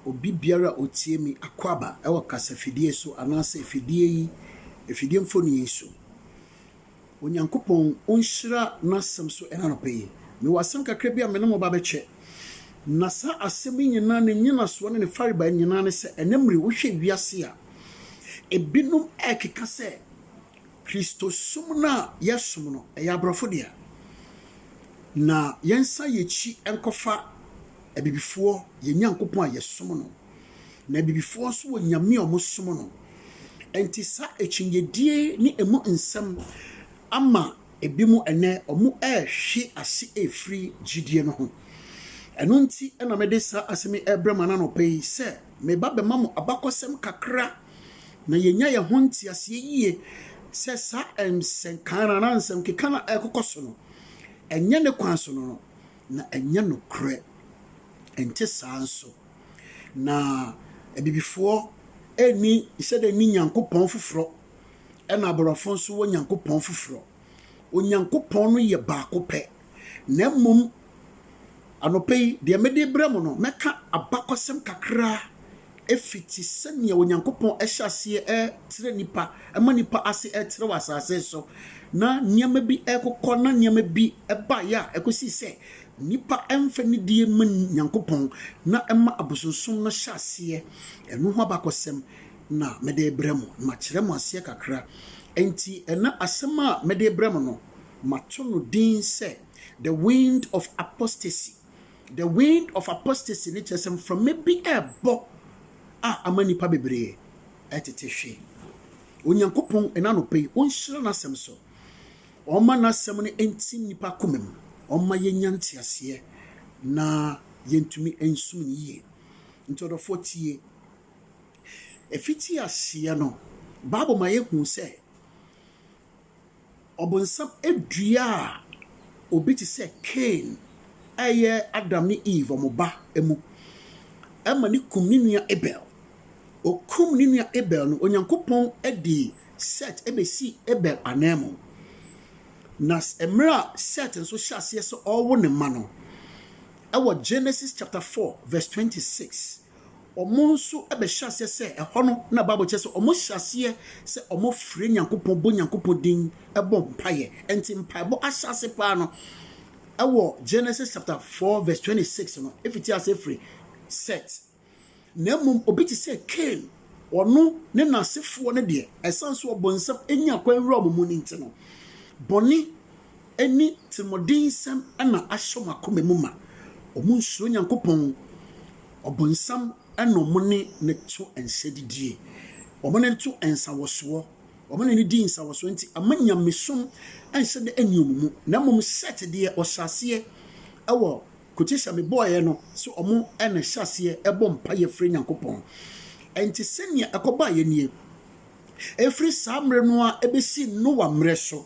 obi biara a ɔtie me akwaaba wɔ kasafidie so anaasɛ afidie yi, afidie mfoni yi so. Onyankopɔn ɔnhyira n'asɛm so ɛna anɔpa yi. Mewɔ asɛm kakra bi a me ne mo ba bɛkyɛ. Na saa asɛm yi nyinaa ne nyinasoɔ ne ne farebae nyinaa ne sɛ ɛnɛ mmere wohwɛ wiase a, ebinom ɛrekeka sɛ Kristosom no a yɛsom no, ɛyɛ aborɔfo dea, na yɛnsan yɛn akyi nkɔfa abibifoɔ yɛn Nyankopɔn a yɛsom no, na abibifoɔ nso wɔ nyame a wɔsom no. Enti saa akyinnyedie ne emu nsɛm ama ebinom ɛnnɛ wɔrehwe ase afiri gyidie no ho. Ɛno nti na mede saa asɛm yi rebrɛ mo anaa anɔpa yi sɛ, Meba bɛma mo abakɔsɛm kakra na yɛanya yɛn ho nteaseɛ yie sɛ saa nsɛnka no anaa nsɛmkeka no a ɛrekokɔ so no, ɛnyɛ ne kwan so no no, na ɛnyɛ nokorɛ. Ɛnte saa nso na Abibifoɔ nni sɛdeɛ nni Nyankopɔn foforɔ, ɛna Aborɔfo nso wɔ Nyankopɔn foforɔ. Onyankopɔn no yɛ baako pɛ. Na mmom anɔpa yi, deɛ mede rebrɛ mo no, mɛka abakɔsɛm kakra fiti sɛdeɛ Onyankopɔn hyɛ aseɛ trɛ nnipa, ma nnipa ase trɛ wɔ asase so, na nneɛma bi rekokɔ, na nneɛma bi baeɛ a ɛkɔsii sɛ nnipa mfa nidie mma Nyankopɔn, na ɛma abosonsom no hyɛ aseɛ. Ɛno ho abakɔsɛm na mede rebrɛ mo, na makyerɛ mo aseɛ kakra. Enti ɛnna asɛm a mede rebrɛ mo no, Mato no din sɛ The Wind of Apostasy. The Wind of Apostasy no kyerɛ sɛ mframa bi rebɔ a ama nnipa bebree retete hwe. Onyankopɔn, ɛna anɔpa yi, ɔnhyira n'asɛm so. Ɔmma n'asɛm no ntim nnipa koma mu. Ɔmma yɛnya nteaseɛ na yɛntumi nsom no yie. Nti ɔdɔfoɔ tie. Ɛfiti aseɛ no, Bible ma yɛhu sɛ Ɔbonsam dua a obi te sɛ Kain reyɛ Adam ne Eve, wɔn ba, mu ma no kum ne nua Abel. Okum ne nua Abel no, Onyankopɔn de Set besii Abel ananmu. Na mmerɛ a Set nso hyɛ aseɛ sɛ ɔrewo ne mma no, wɔ Genesis chapter 4 verse 26, wɔn nso bɛhyɛ aseɛ sɛ ɛhɔ no na Bible kyerɛ sɛ wɔhyɛ aseɛ sɛ wɔfrɛ Nyankopɔn bɔ Nyankopɔn din bɔ mpaeɛ. Ɛnti mpaebɔ ahyɛase paa no ɛwɔ Genesis chapter 4 verse 26 no ɛfiti aseɛ firi Set. Na mmom obi te sɛ Cain ɔno ne n'asefoɔ no deɛ ɛsan so ɔbonsam ɛnya kwan wura wɔn mu no nti no bɔne ne tirimɔdensɛm na ahyɛ wɔn akoma mu ma. Wɔnsuro Nyankopɔn. Ɔbonsam na wɔne no to nsa didie. Wɔne no to nsawɔsoɔ. Wɔne no di nsawɔsoɔ nti, ama nyamesom nhyɛ da nni wɔn mu. Na mmom Set deɛ, ɔhyɛ aseɛ wɔ quotation mebɔeɛ no sɛ wɔn na ɛhyɛ aseɛ bɔ mpaeɛ frɛ Nyankopɔn. Enti sɛnea ɛkɔbaeɛ nie. Ɛfiri saa mmerɛ no ara bɛsi Noa mmerɛ so.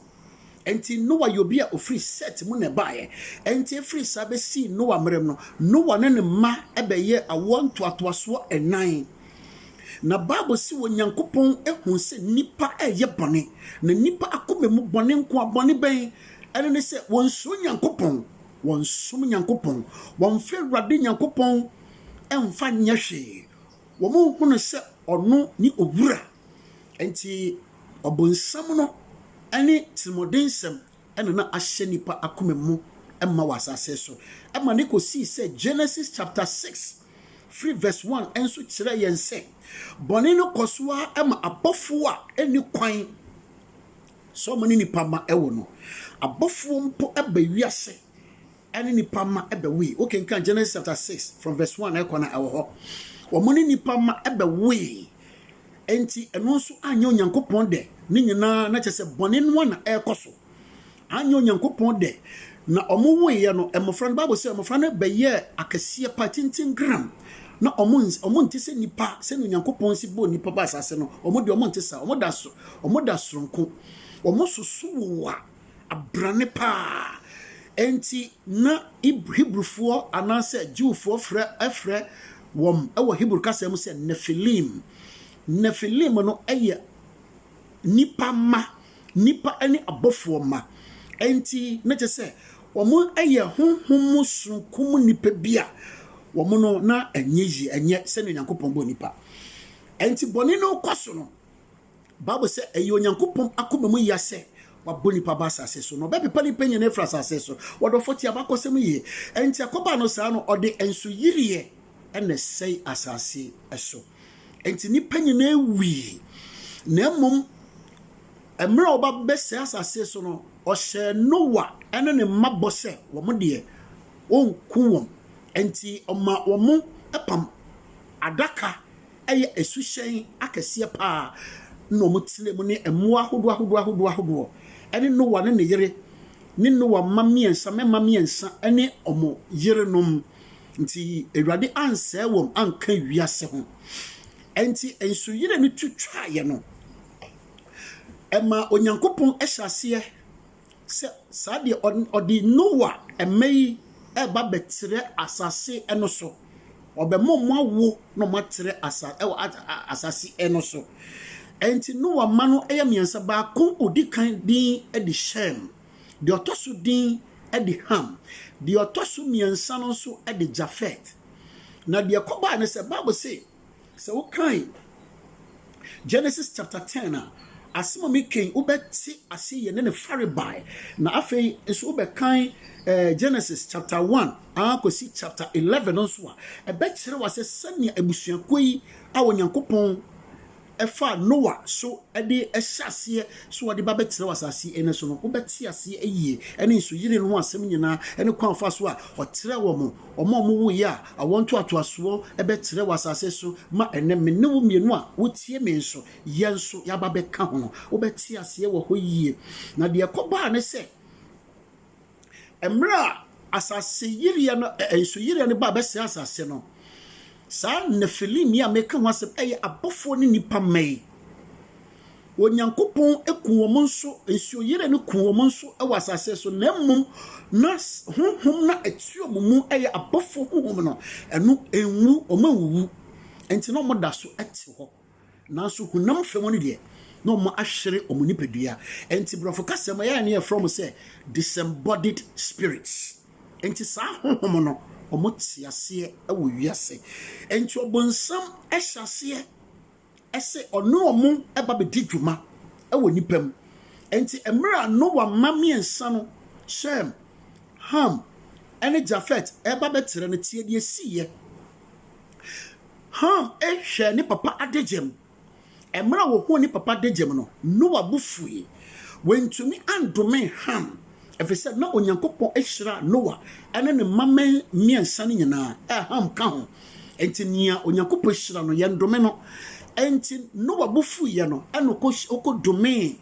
Enti Noa yɛ obi a ɔfiri Set mu na ɛbaeɛ. Enti ɛfiri saa bɛsii Noa mmerɛ mu no, Noa ne ne mma bɛyɛɛ awoɔ ntoatoasoɔ nnan. Na Bible se Onyankopɔn huu sɛ nnipa reyɛ bɔne, na nnipa akoma mu bɔne nko a, bɔne bɛn? Ɛno ne sɛ wɔnsuro Nyankopɔn, wɔnsom Nyankopɔn, wɔmfa Awurade Nyankopɔn mfa nyɛ hwee, Wɔnhu no sɛ ɔno ne owura. Enti ɔbonsam no ne tirimɔdensɛm na na ahyɛ nnipa akoma mu ma wɔ asase so ma no kosii sɛ Genesis chapter six firi verse one nso kyerɛ yɛn sɛ bɔne no kɔ so ara ma abɔfoɔ a ɛnni kwan sɛ wɔne nnipa mma wɔ no, abɔfoɔ mpo ba wiase. ɛne nnipa mma ɛbɛwoe. Wo kenkan Genesis chapter 6 from verse 1 ɛkɔ na ɛwɔ hɔ. Wɔn ne nnipa mma ɛbɛwoe. Enti ɛno nso anyɛ Onyankopɔn dɛ ne nyinaa na kyɛ sɛ bɔne no na ɛrekɔ so. Anyɛ Onyankopɔn dɛ na wɔn woeɛ no mmɔfra no Bible sɛ mmɔfra no bɛyɛɛ akɛseɛ pa tenten gram na wɔn wɔn nte sɛ nnipa sɛnea Onyankopɔn si bɔɔ nnipa ba asase no wɔn deɛ wɔn nte saa wɔn da so wɔn da soronko wɔn soso wowa abrane paa. Enti na Hebrifoɔ anaasɛ Jewfoɔ frɛ wɔn wɔ Hebri kasa mu sɛ Nefilim. Nefilim no yɛ nnipa mma, nnipa ne abɔfoɔ mma. Enti na kyerɛ sɛ wɔyɛ honhom mu sononko mu nnipa bi a wɔn no na ɛnyɛ yie, ɛnyɛ sɛdeɛ Onyankopɔn bɔɔ nnipa. Enti bɔne no rekɔ so no, Bible sɛ ɛyɛ Onyankopɔn akoma mu ya sɛ wabɔ nnipa aba asase so, na ɔbɛpepa nnipa nyinaa afiri asase so. Wɔde ɔfɔ tie abakɔsɛm yie. Enti ɛkɔbaa no saa no, ɔde nsoyiriɛ na ɛsɛe asase so. Enti nnipa nyinaa wui. Na mmom, mmerɛ a ɔba bɛsɛe asase so no, ɔhyɛɛ Noa ne ne mma bɔ sɛ wɔn deɛ, wɔnku wɔn. Enti ɔma wɔn apam adaka Ɛyɛ asuhyɛn akɛseɛ pa ara na wɔtenaa mu ne mmoa ahodoɔ ahodoɔ ahodoɔ ahodoɔ, ɛne Noa ne ne yere ne Noa mma mmiɛnsa, mmɛmma mmiɛnsa ne wɔn yerenom. Nti Awurade ansɛe wɔn anka wiase ho. Ɛnti nsuyire no tu twaaeɛ no, ɛmaa Onyankopɔn hyɛɛ aseɛ Sɛ saa deɛ, ɔde Noa mmɛ yi reba abɛtrɛ asase no so. Ɔbɛma wɔn awo na wɔn atrɛ asa ɛwɔ asase no so. Ɛnti Noa mma no yɛ mmiɛnsa, baako ɔdi kan din de Shem, deɛ ɔtɔ so din de Ham, deɛ ɔtɔ so mmiɛnsa no nso de Jafet. Na deɛ ɛkɔbaeɛ ne sɛ, Bible se, Sɛ wo kan Genesis chapter ten a, asem a me ken wo bɛ te ase yɛ ne ne farebae. Na afei nso wo bɛ kan eh, Genesis chapter one ah, kosi chapter eleven nso a, ɛbɛ kyerɛ wa sɛ sɛnea abusuakuo yi a Onyankopɔn ɛfa Noa so de hyɛ aseɛ sɛ wɔde ba bɛtena wɔ asase ɛnɛ so no, wobɛte aseɛ ayie, ɛne nsuyire no ho asɛm nyinaa, ɛne kwan a ɔfaa so a ɔtrɛɛ wɔn, wɔn a wɔwoeɛ a awoɔ ntoatoasoɔ bɛtrɛ wɔ asase so ma ɛnɛ me ne wo mmienu a wotie me nso yɛn nso yɛaba bɛka ho no, wobɛte aseɛ wɔ hɔ yie. Na deɛ ɛkɔbaa ne sɛ, Mmerɛ a asaseyiriɛ no, nsuyiriɛ no baa bɛsɛe asase no, saa Nefilim yi a meka ho asɛm yɛ abɔfoɔ ne nnipa mma yi. Onyankopɔn ku wɔn nso, nsuyiriɛ no ku wɔn nso wɔ asase so, na mmom na honhom na ɛte wɔn mu yɛ abɔfoɔ honhom no, ɛno ɛnwu, wɔn anwuwu, nti na wɔda so te hɔ. Nanso honam fam no deɛ, na wɔahwere wɔn nipadua. Enti Borɔfo kasa mu ɛyɛ a na yɛfrɛ wɔn sɛ disembodied spirits. Enti saa honhom no, wɔte aseɛ wɔ wiase. Enti ɔbonsam hyɛ aseɛ sɛ ɔne wɔn ba bɛdi dwuma wɔ nnipa mu. Enti mmerɛ a Noa mma mmiɛnsa no, Shem, Ham, ne Jafet, reba bɛtrɛ no, tie deɛ ɛsiiɛ. Ham hwɛɛ ne papa adagyam. Mmerɛ a wɔhuu ne papa adagyam no, Noa bo fuui. Wantumi andome Ham, ɛfiri sɛ na Onyankopɔn ahyira Noa ne ne mma mmiɛnsa no nyinaa, a Ham ka ho. Enti nea Onyankopɔn hyira no, yɛndome no. Enti Noa bo fuiɛ no, ɛna ɔkɔdomee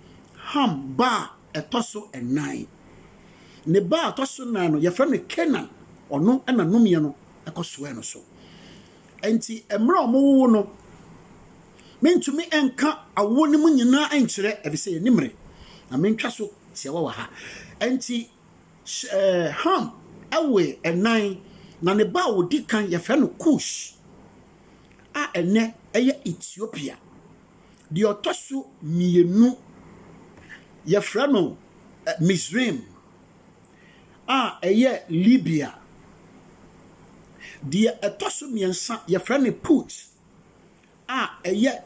Ham ba a ɛtɔ so nnan. Ne ba a ɛtɔ so nnan no, yɛfrɛ no Kanaan. Ɔno na nomeɛ no ɛkɔsoɛɛ no so. Enti mmerɛ a wɔwowo no, mentumi nka awoɔ no mu nyinaa nkyerɛ, ɛfiri sɛ yɛnni mmere, na mentwa so tiawa wɔ ha. Enti Ham woe ɛnan, na ne ba a ɔdi kan yɛfrɛ no Kus, a ɛnnɛ ɛyɛ Ethiopia. Deɛ ɔtɔ so mmienu yɛfrɛ no Misraim, a ɛyɛ Libya. Deɛ ɛtɔ so mmiɛnsa, yɛfrɛ no Put a ɛyɛ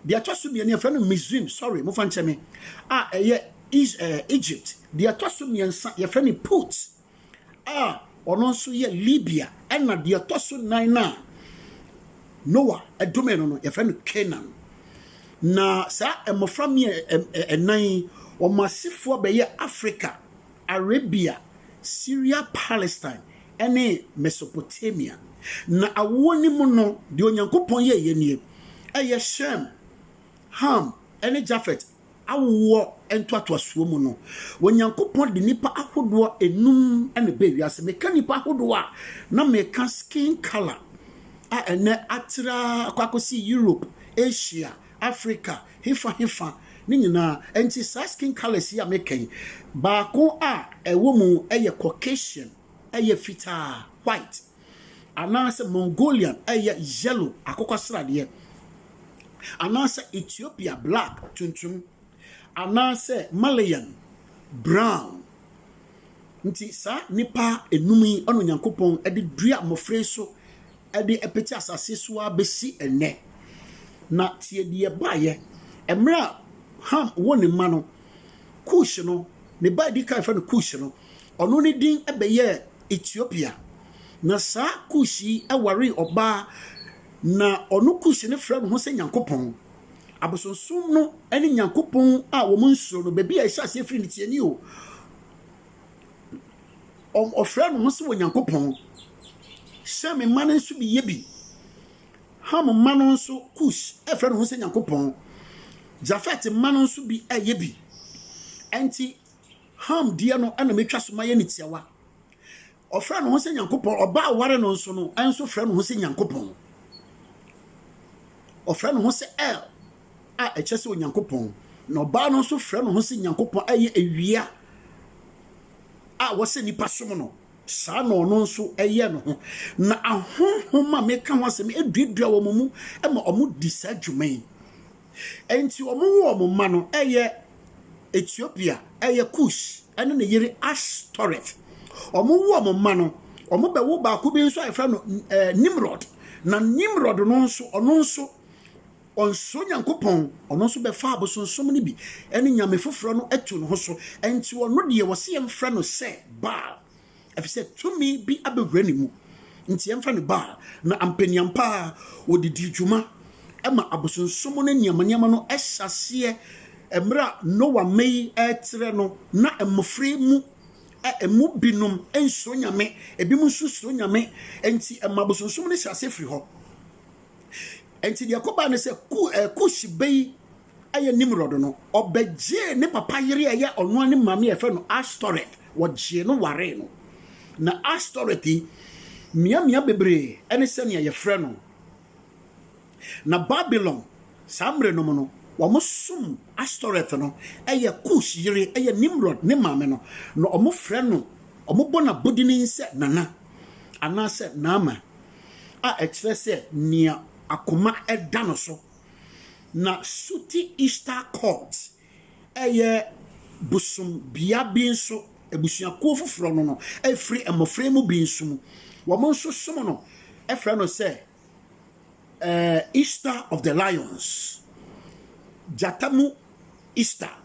deɛ ɛtɔ so mmienu yɛfrɛ no Mizrim, sorry, mofa nkyɛ me, a ɛyɛ Egypt. Deɛ ɛtɔ so mmiɛnsa, yɛfrɛ no Put a ɔno nso yɛ Libia, ɛnna deɛ ɛtɔ so nnan no a Noa domee no no, yɛfrɛ no Kanaan. Na saa mmɔfra mmiɛ nnan yi, wɔn asefoɔ bɛyɛ Afrika, Arabia, Syria, Palestine, ne Mesopotamia. Na awoɔ no mu no, deɛ Onyankopɔn yɛeɛ nie, ɛyɛ Shem, Ham, ne Jafet awoɔ ntoatoasoɔ mu no, Onyankopɔn de nnipa ahodoɔ enum na ɛbɛɛ wiase. Meka nnipa ahodoɔ a, na meka skin colour a ɛnɛ atra kɔ akɔsi Europe, Asia, Africa, hefa hefa ne nyinaa. Ɛnti saa skin colours yi a meka yi, baako a ɛwɔ mu yɛ Caucasian, ɛyɛ fitaa, white. anaasɛ Mongolian, ɛyɛ yellow, akokɔsradeɛ, anaasɛ Ethiopia, black, tuntum, anaasɛ Malayan, brown. Nti saa nnipa enum yi ɛna Onyankopɔn de dua mmɔfra yi so de apete asase so ara bɛsi ɛnnɛ. Na tie deɛ ɛbaeɛ, mmerɛ a Ham woo ne mma no, Kush no, ne ba a ɛdi kan fɛ no Kush no, Ɔno ne din bɛyɛɛ Etiopia. Na saa Kus yi waree ɔbaa, na ɔno Kus no frɛ ne ho sɛ Nyankopɔn. Abosonsom no ne Nyankopɔn a wɔn nsuro no, baabi a ɛhyɛ aseɛ firi no, tie ni o, ɔfrɛ ne ho sɛ Onyankopɔn. Shem mma no nso bi yɛ bi. Ham mma no nso, Kus frɛ ne ho sɛ Nyankopɔn. Jafet mma no nso bi yɛ bi. Ɛnti, Ham deɛ no na mɛtwa so mayɛ no tiawa. Ɔfrɛ ne ho sɛ Nyankopɔn. Ɔbaa ɔware no nso no, ɛnso frɛ ne ho sɛ Nyankopɔn. Ɔfrɛ ne ho sɛ El a ɛkyɛ sɛ Onyankopɔn. Na ɔbaa no nso frɛ ne ho sɛ Nyankopɔn a ɛyɛ awia a wɔsɛ nnipa som no. saa na ɔno nso ɛyɛ no ho na ahonhom a meka ho asɛm aduadua wɔn mu ma wɔdi saa dwuma yi Enti wɔwoo wɔn mma no, ɛyɛ Etiopia, ɛyɛ Kus, ɛne ne yere Astoreth. Wɔwoo wɔn mma no, wɔbɛwo baako bi nso a yɛfrɛ no ɛɛ Nimrod. Na Nimrod no nso, ɔno nso, ɔnsoro Nyankopɔn, ɔno nso bɛfa abosonsom no bi ɛne nyame foforɔ no ato ne ho so. Enti ɔno deɛ wɔsi yɛn frɛ no sɛ Baal. Efisɛ tumi bi abɛwura ne mu, enti ɛmfa no Baal. Na ampaniampa ara wɔde dii dwuma ma abosonsom ne nneɛma nneɛma no hyɛaseɛ mmerɛ a Noa mma yi retrɛ no, na mmɔfra yi mu ɛmu binom nsuro Nyame, ebinom nso suro Nyame, enti ɛma abosonsom no hyɛaseɛ firi hɔ. Enti deɛ ɛkɔbaa ne sɛ Ku, eh, Kush bɛ yi yɛ Nimrod no, ɔbɛgyee ne papa yere a ɛyɛ ɔnoa ne maame a yɛfrɛ no Astoreth, wɔgyee no waree no. Na Astoreth yi, mmeammea bebree ne sɛnea yɛfrɛ no. Na Babilon, saa mmerɛ no mu no, wɔsom Astoreth no, ɛyɛ Kus yere, ɛyɛ Nimrod ne maame no, na wɔfrɛ no, wɔbɔ no abodinin sɛ Nana, anaasɛ Naama, a ɛkyerɛ sɛ nea akoma da no so. na Suti Ishtar Court yɛ bosom bea bi nso, abusuakuo foforɔ no no firi mmɔfra mu bi nso mu, wɔn nso som no frɛ no sɛ Ishtar of the Lions, gyata mu Ishtar,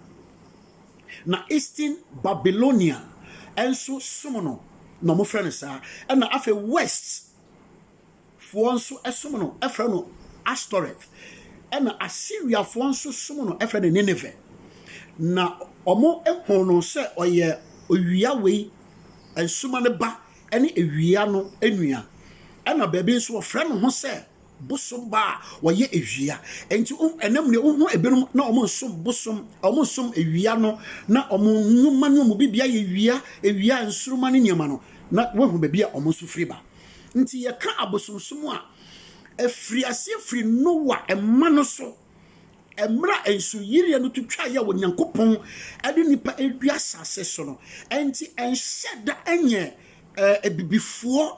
na Eastern Babylonia nso som no na wɔfrɛ no saa, ɛna afei West. Foɔ nso som no frɛ no Astoreth, ɛna Asiriafoɔ nso som no frɛ no Nineve, na wɔhuu no sɛ ɔyɛ owia wei, nsuma no ba ne awia no nua, ɛna baabi nso wɔfrɛ no ho sɛ bosom ba a wɔyɛ awia. Enti ɛnam nea wohu ebinom na wɔn nsom bosom, wɔn nsom awia no, na wɔn nnwuma ne wɔn bibia yɛ awia, awia nsoroma ne nneɛma no, na woahu baabi a wɔn nso firi ba. Nti yɛka abosomsom a, ɛfiri aseɛ firi Noa mma no so, mmerɛ a nsuyireɛ no to twaeɛ a Onyankopɔn de nnipa redi asase so no. Ɛnti ɛnhyɛ da nyɛ abibifoɔ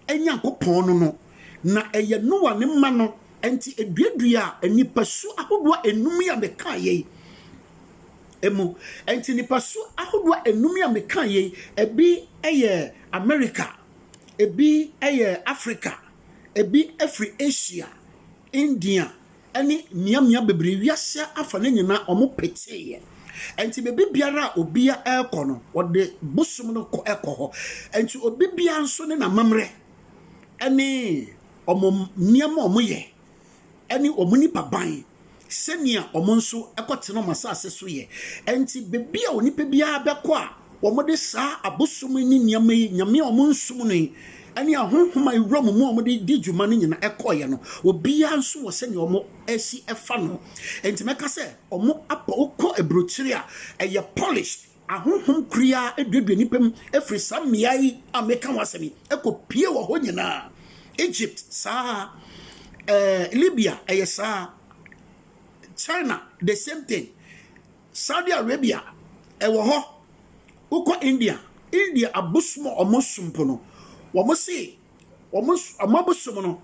Nyankopɔn no no, na ɛyɛ Noa ne mma no nti ɛduaduaa nnipasu ahodoɔ nnum yi a mekaeɛ yi mu. Ɛnti nnipasu ahodoɔ nnum yi a mekaeɛ yi, ɛbi yɛ Amerika, Ebi yɛ Afrika, ebi firi Asia, India, ne mmeammea bebree, wiase afa no nyinaa, wɔpeteeɛ. Ɛnti baabi biara a obiara rekɔ no, wɔde bosom no kɔ kɔ hɔ. Ɛnti obi biara nso ne n'amammerɛ ne wɔn nneɛma a wɔyɛ ne wɔn nnipa ban sɛnea wɔn nso kɔtena wɔn asase so yɛ. Enti baabi a onipa biara bɛkɔ a wɔde saa abosom ne nneɛma yi, nyame a wɔnsom no yi, ne ahonhom a ewura mu mu a wɔde di dwuma no nyinaa ɛkɔeɛ no, obiara nso wɔ sɛnea wɔasi ɛfa no. Enti mɛka sɛ wɔapɔ kɔ aburokyire a ɛyɛ polished. Ahonhom kuruaa aduadua nnipa mu firi saa mmeae a meka ho asɛm yi kɔpue wɔ hɔ nyinaa. Egypt, saa ara. Ɛɛ, Libya, ɛyɛ saa ara. China, the same thing. Saudi Arabia, ɛwɔ hɔ. Wokɔ India, India abosom a wɔsom po no, wɔn se Wɔn wɔn abosom no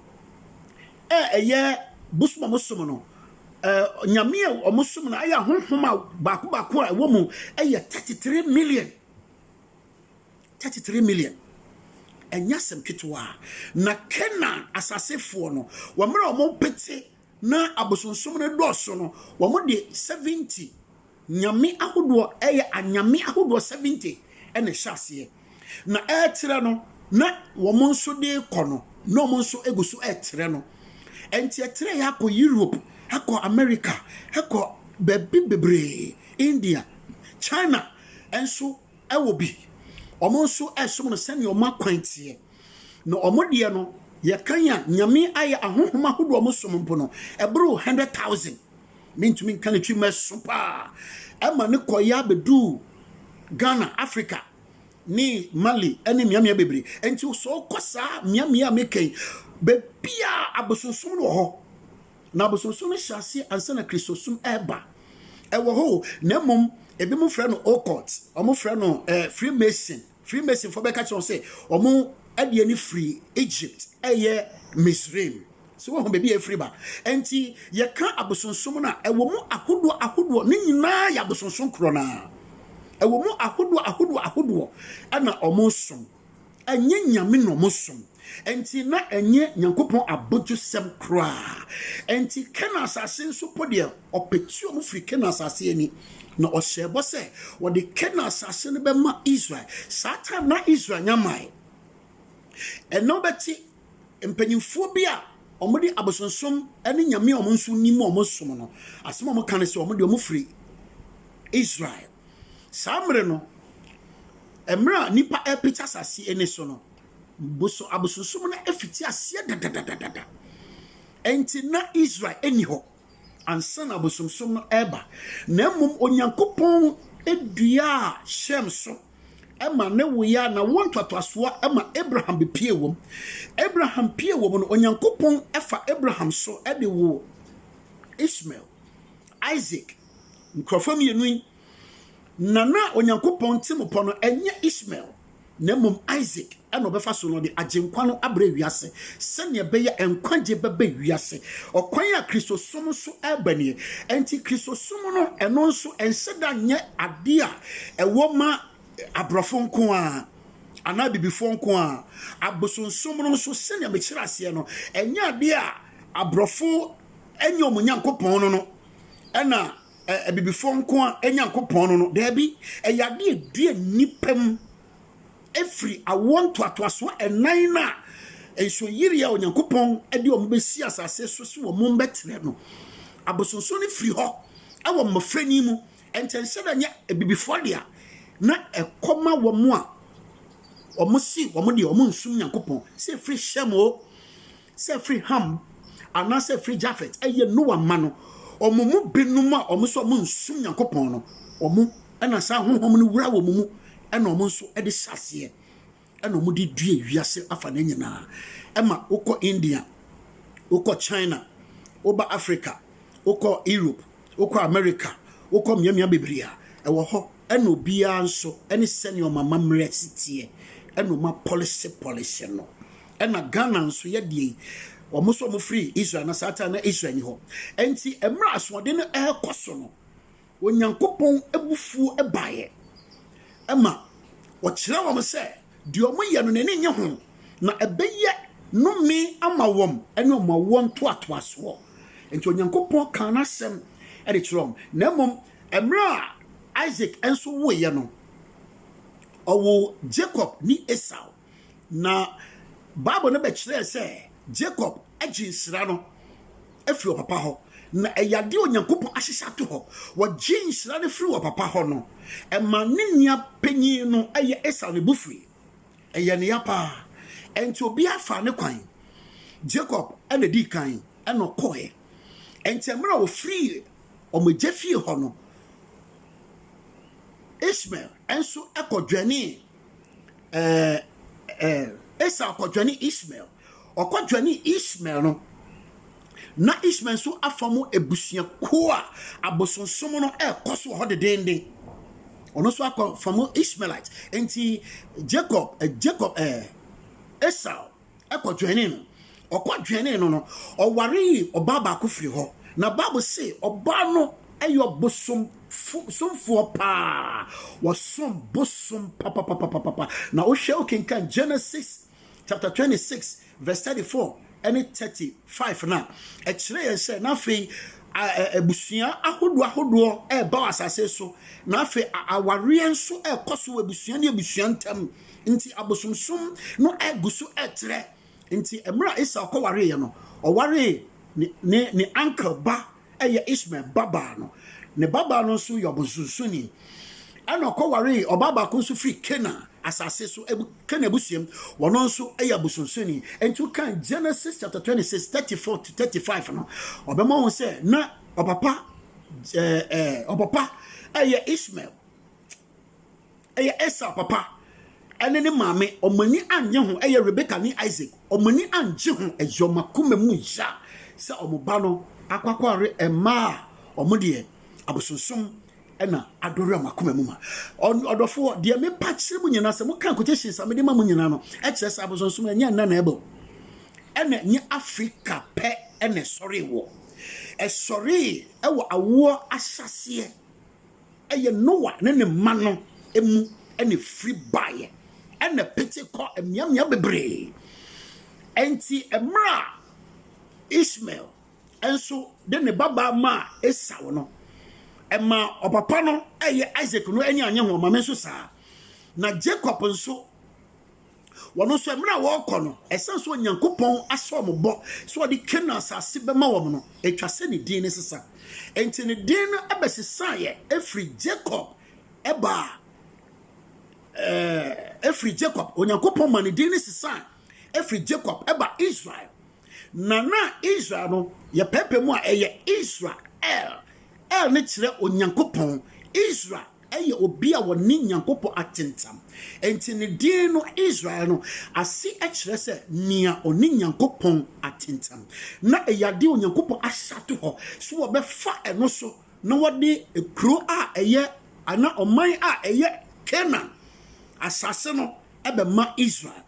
a ɛyɛ bosom a wɔsom no, ɛɛ nyame a wɔsom no ayɛ ahonhom a baako baako a ɛwɔ mu yɛ thirty three million. Thirty three million. Ɛnyɛ asɛm ketewa. Na Canaan asasefoɔ no, wɔn mmerɛ a wɔpete na abosonsom no dɔɔso no, wɔn de seventy Nyame ahodoɔ yɛ anyame ahodoɔ 70 na ɛhyɛ aseɛ. Na ɛretrɛ no, na wɔn nso de rekɔ no, na wɔn nso gu so retrɛ no. Ɛnti ɛtrɛeɛ akɔ Europe, akɔ America, akɔ baabi bebree, India, China nso wɔ bi. Wɔn nso resom no sɛdeɛ wɔn akwan teɛ. Na wɔn deɛ no, yɛkan a, Nyame ayɛ ahonhom ahodoɔ a wɔsom mpo no, ɛboro 100,000. Mentumi nka ne tirim ɛso paa. Ɛma ne kɔeɛ abɛduu Ghana, Africa ne Mali ne mmeammea bebree. Enti sɛ wokɔ saa mmeammea a meka yi, bebia abosonsom no wɔ hɔ. Na abosonsom no hyɛ aseɛ ansa na Kristosom ɛreba. Ɛwɔ hɔ na mmom ebinom frɛ no occult, wɔn frɛ no eh, Freemason. Freemasonfoɔ bɛka kyerɛ wɔn sɛ wɔn adeɛ no firi Egypt ɛyɛ Misraim so wɔn baabi a ɛfiri ba nti yɛka abosonsom no a ɛwɔ mu ahodoɔ ahodoɔ ne nyinaa yɛ abosonsom korɔ no a ɛwɔ mu ahodoɔ ahodoɔ ahodoɔ ɛna wɔn som ɛnyɛ nyame na wɔn som Enti na ɛnyɛ Nyankopɔn abodwosɛm koraa. Enti Kanaan asase nso mpo deɛ, ɔpetuu wɔn firii Kanaan asase ani, na ɔhyɛɛ bɔ sɛ wɔde Kanaan asase no bɛma Israel. Saa time na Israel nya mmae. Ɛnnɛ wobɛte mpanyimfoɔ bi a wɔde abosonsom ne nyame a wɔn nso nim a wɔsom no, asɛm a wɔka ne sɛ wɔn deɛ wɔfiri Israel. Saa mmerɛ no, mmerɛ a nnipa repete asase ani so no, boso abosonsom no afiti aseɛ dadadadada. Enti na Israel nni hɔ ansa na abosomsom no ɛreba, na mmom Onyankopɔn duaa Shem so ma ne woya na wo ntoatoasoɔ ma Abraham bepie wɔm. Abraham pie wɔm no, Onyankopɔn fa Abraham so de wo Ishmael, Isaac, nkurɔfoɔ mmienu yi Na na Onyankopɔn Timupɔ no, ɛnyɛ Ismael, na mmom Isak na ɔbɛfa so na ɔde Agyenkwa no abrɛ wiase, sɛnea ɛbɛyɛ a nkwagye bɛba wiase. Ɔkwan a Kristosom so ɛreba nie. Enti Kristosom no, ɛno nso, ɛnhyɛ da nyɛ ade a ɛwɔ ma aborɔfo nko ara, anaa abibifoɔ nko ara. Abosonsom no nso, sɛnea mekyerɛ aseɛ no, ɛnyɛ ade a aborɔfo nyɛ wɔn Nyankopɔn no no na Abibifoɔ nko ara Nyankopɔn no no? Daabi, ɛyɛ adeɛ a ɛdua nnipa mu ɛfiri awoɔ ntoatoasoɔ ɛnan no a nsuoyirie a Onyankopɔn de wɔn bɛsi asase so sɛ wɔn bɛtena no. Abosonsom no firi hɔ wɔ mmɔfrani mu. Ɛnkyɛnhyɛ da nyɛ abibifoɔ dea na ɛkɔma wɔn a wɔse wɔn deɛ wɔn nsum Nyankopɔn sɛ ɛfiri Shem o, sɛ firi Ham anaasɛ firi Jafet, ɛyɛ Noa mma no, wɔn mu binom a wɔn sɛ wɔn nsum Nyankopɔn no, wɔn ɛna saa Honhom no wura wɔn mu, ɛna wɔn nso ɛde hyɛ aseɛ, ɛna wɔn de due wiase afa ne nyinaa, ɛma wokɔ India, wokɔ China, woba Africa, wokɔ Europe, wokɔ America, wokɔ mmeammea bebree a, ɛwɔ hɔ, ɛna obiara nso ɛne sɛnea wɔn amammerɛ si teɛ, ɛna wɔn apɔlese pɔlese no. Ɛna Ghana nso yɛ deɛ yi. Wɔn nso wɔn firi Israel na saa time na Israel ni hɔ. Ɛnti mmerɛ asoɔden no ɛrekɔ so no, Onyankopɔn abufuo baeɛ. Ɛma ɔkyerɛ wɔn sɛ deɛ wɔn yɛ no n'ani nye ho na ɛbɛyɛ nome ama wɔn ɛne wɔn awoɔ ntoatoasoɔ. Ɛnti Onyankopɔn kaa n'asɛm ɛde kyerɛ wɔn. Na mmom mmerɛ a Isaac ɛnso woeɛ no, ɔwoo Jacob ne Esau. Na Bible no bɛkyerɛɛ sɛ Jacob gye nhyira no firi ɔpapa hɔ. Na ɛyɛ adeɛ a Onyankopɔn ahyehyɛ ato hɔ. Wɔgye nhyira no firi ɔpapa hɔ no, ɛma ne nua panyin no yɛ Esau ne bo fui. Ɛyɛ ne ya paa. Ɛnti obiara faa ne kwan. Jacob na ɛdii kan ɛna ɔkɔɛ. Ɛnti mmerɛ a ɔfiri wɔn agya fie hɔ no, Ishmael nso ɛkɔ dwɛnee ɛɛ ɛɛ Esau kɔdwane Ismael. Ɔkɔdwane Ismael no, na Ismael nso afa mu abusuakuo a abosonsom no ɛrekɔ so wɔ hɔ dedeenden. Ɔno nso akɔ fa mu Ismaelite. Nti Jacob, eh, Jacob, eh, Esau kɔdwɛnee no. Ɔkɔdwɛnee no no, ɔwaree ɔbaa baako firi hɔ. Na Bible se ɔbaa no yɛ ɔbosomsomfoɔ paa. Wɔsom bosom papapapapapa. Na wohwɛ wokenkan Genesis chapter 26 verse 34 ne 35 no a, ɛkyerɛ yɛn sɛ na afei abusua ahodoɔ ahodoɔ ɛreba wɔ asase so. Na afei awareɛ nso ɛrekɔ so wɔ abusua ne abusua ntam. Enti abosomsom no gu so retrɛ. Enti mmerɛ a Esau kɔwareeɛ no, ɔwaree ne ne ne uncle ba ɛyɛ Ishmael babaa no. Ne babaa no nso yɛ ɔbosonsonni. Ɛna ɔkɔwaree ɔbaa baako nso firi Canaan asase so, Canaan abusuam, wɔn nso yɛ abosonsonni. Enti wokan Genesis chapter 26, 34 to 35 no, ɔbɛma wɔn sɛ na ɔpapa ɛɛ ɛɛ ɔpapa ɛyɛ Ishmael. Ɛyɛ Esau papa ne ne maame, wɔn ani annye ho, ɛyɛ Rebeka ne Isak, wɔn ani anngye ho, ɛyɛ wɔn akoma mu ya sɛ wɔn ba no akɔakɔware mmaa a wɔn deɛ abosonsom na adore wɔn akoma mu ma. Ɔn- Ɔdɔfoɔ, deɛ mepa kyerɛ mu nyinaa, sɛ moka quotations a mede ma mu nyinaa no, ɛkyerɛ sɛ abosonsom ɛnyɛ nnɛ na ɛba o. Ɛna ɛnyɛ Afrika pɛ na ɛsɔree wɔ. Ɛsɔree wɔ awoɔ ahyɛaseɛ. Ɛyɛ Noa ne ne mma no mu na efiri baeɛ, ɛna ɛpete kɔ mmeammea bebree. Enti mmerɛ a Ishmael nso de ne babaa maa Esau no, ɛmaa ɔpapa no, ɛyɛ Isaac no, ani annye ho, maame nso saa. Na Jacob nso Wɔn nso, mmerɛ a wɔrekɔ no, ɛsiane sɛ Onyankopɔn ahyɛ wɔn bɔ sɛ ɔde Kanaan asase bɛma wɔn no, ɛtwa sɛ ne din no sesa. Enti ne din no bɛsesaeɛ firi Jacob baa eh, firi Jacob, Onyankopɔn ma ne din no sesae firi Jacob ba Israel. Na na Israel no, yɛpɛɛpɛ mu a, ɛyɛ Israel. El ne kyerɛ Onyankopɔn, Israel yɛ obi a ɔne Nyankopɔn atentam. Enti ne din no, Israel no, ase kyerɛ sɛ Nea Ɔne Nyankopɔn Atentam. Ná ɛyɛ ade a Onyankopɔn ahyɛ ato hɔ sɛ wɔbɛfa ɛno so na wɔde kurow a ɛyɛ anaa ɔman a ɛyɛ Kanaan asase no bɛma Israel.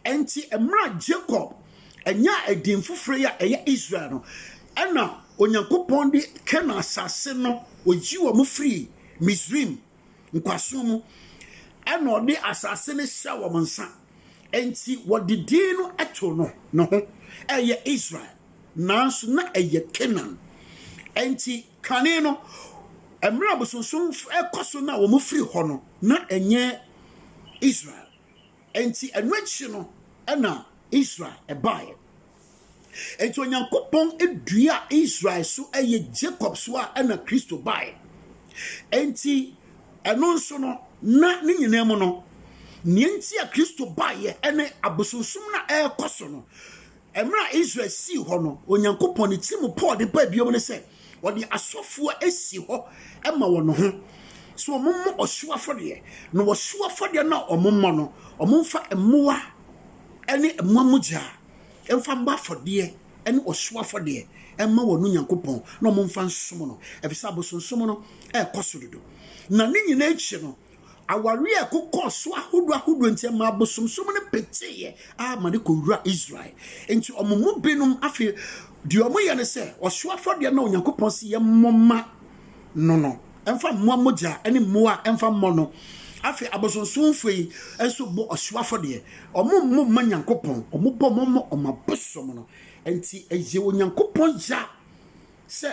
Enti mmerɛ a Jakob Ɛnyaa edin foforo yi a ɛyɛ Israel no, ɛnna Onyankopɔn de Kanaan asase no, oyii wɔn firii Misraim nkoasom mu, ɛnna ɔde asase no hyɛɛ wɔn nsa. Enti wɔde din no too no ne ho, ɛyɛ Israel, nanso na ɛyɛ Kanaan. Enti kane no, mmerɛ abosonsomfo rekɔ so na wɔfiri hɔ no, na ɛnyɛ Israel. Enti ɛno akyi no na Israel baeɛ. Enti Onyankopɔn dua Israel so yɛ Jacob so a ɛna Kristo baeɛ. Enti ɛno nso no na ne nyinaa mu no, nea nti a Kristo baeɛ ne abosonsom no a ɛrekɔ so no, Mmerɛ a Israel sii hɔ no, Onyankopɔn, ne tiri mu Paul de bae bio ne sɛ, ɔde asɔfoɔ asi hɔ ma wɔn ho, sɛ wɔmmɔ ɔhyew afɔdeɛ, na ɔhyew afɔdeɛ no a wɔmmɔ no, wɔmfa mmoa ne mmoa mogya mfa mmɔ afɔdeɛ ne ɔhyew afɔdeɛ mma wɔn Onyankopɔn, na wɔmfa nsom no, ɛfiri sɛ abosonsom no rekɔ so dodo. Na ne nyinaa akyi no, Aware a ɛkokɔɔ so ahodoɔ ahodoɔ nti, ɛmaa bosomsom no peteeɛ ara ma no kɔwuraa Israel. Enti wɔn mu binom afei, deɛ wɔyɛ ne sɛ, ɔhyew afɔdeɛ no a Onyankopɔn se yɛmmɔ mma no no, ɛmfa mmoa mogya ne mmoa a ɛmfa mmɔ no. Afei abosonsomfoɔ yi nso bɔ ɔhyew afɔdeɛ. Wɔmmɔ mma Nyankopɔn, wɔbɔ mma wɔn abosom no. Enti ɛyɛ Onyankopɔn ya sɛ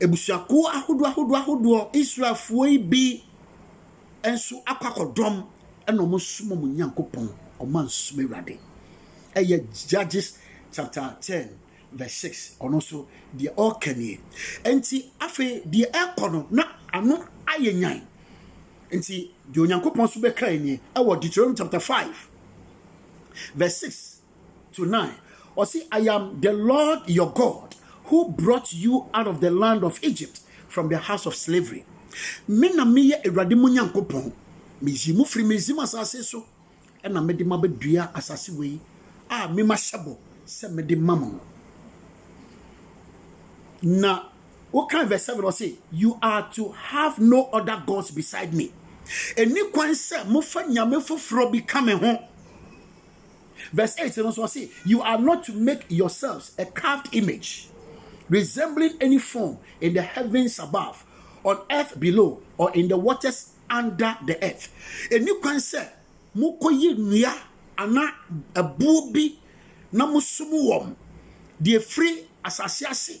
Abusuakuo ahodoɔ ahodoɔ ahodoɔ Israelfoɔ yi bi nso akɔ akɔdɔm ɛna wɔn som wɔn Nyankopɔn wɔn ansom Awurade ɛyɛ Judges chapter ten verse six ɔno nso deɛ ɔreka nie nti afei deɛ ɛkɔ no na ano ayɛ nyan nti deɛ Onyankopɔn nso bɛka nie ɛwɔ Deuteronomy chapter five verse six to nine, ɔse, I am the Lord your God who brought you out of the land of Egypt from the house of slavery. Me na meyɛ Awurade mo Nyankopɔn, meyi mo firi Misrim asase so, ɛna mede mo abɛdua asase wei a me mahyɛ bɔ sɛ mede ma mo no. Na wokan verse seven ɔse, you are to have no other gods beside me. Ɛni kwan sɛ mofa nyame foforɔ bi ka me ho. Verse eight no nso ɔse, You are not to make yourselves a carved image, resembling any form in the heavens above, on earth below, or in the waters under the earth. Ɛnni kwan sɛ mokɔyɛ nnua anaa ɛboɔ bi na mosom wɔn, deɛ ɛfiri asase ase